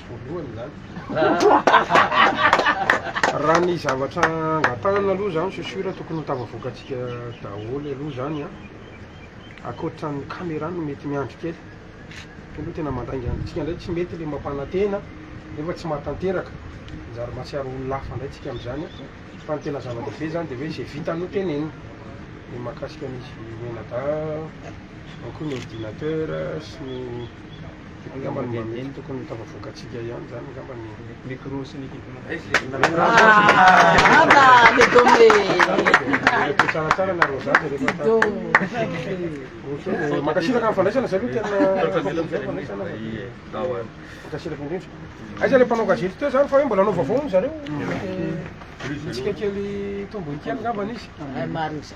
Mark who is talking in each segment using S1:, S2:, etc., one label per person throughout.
S1: voalohany zany raha ny zavatra angatahana aloha zany c'est sûr tokony ho tafavoakatsika daholo aloha zany a akoatra ny caméra no mety miandry kely fa aloha tena mandainga andritsika ndray tsy mety le mampanantena nefa tsy mahatanteraka manjary mahatsiaro olona hafa ndray tsika am'zany a fa ny tena zava-dehibe zany de hoe zay vita no tenenina ny mahakasika an'izy menada ao koa ny ordinateur sy ny Angamba ny mba mety tokony ho tafavoakantsika ihany izany angamba ny micro sy ny Mety tsaratsara ny areo zaka rehefa tao. Ohatry mankasitraka ny fandraisana zay aloha tena fandraisana. Mankasitraka indrindra. Aiza le mpanao gazety teo zany fa hoe mbola hanao vaovao moa zareo? Mety hitsika kely tombony kely angamba izy.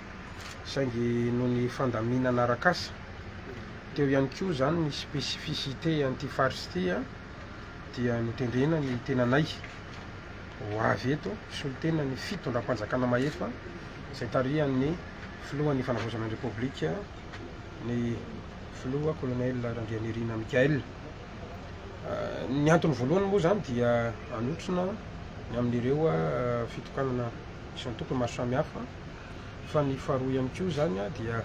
S1: saingy noho ny fandaminana arak'asa teo ihany koa izany ny spécificité an'ity faritra ity dia notendrena ny tenanay ho avy eto hisolo tena ny fitondram-panjakana mahefa izay tarihan'ny filohan'ny fanavaozana ny repoblika ny filoha kolonely Randrianirina Mickaël ny antony voalohany moa izany dia anotrona ny amin'ireo fitokanana isan-tokony maro samihafa Fa ny faharoa ihany koa izany dia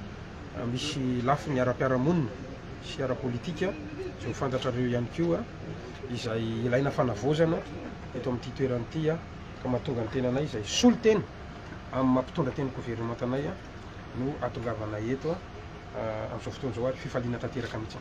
S1: misy lafiny ara-piarahamonina sy ara-politika, izay ho fantatrareo ihany koa, izay ilaina fanavaozana eto amin'ity toerana ity ka mahatonga ny tenanay izay solontena amin'ny maha mpitondra teny governemanta anay no ahatongavanay eto amin'izao fotoana izao ary fifaliana tanteraka mihitsy.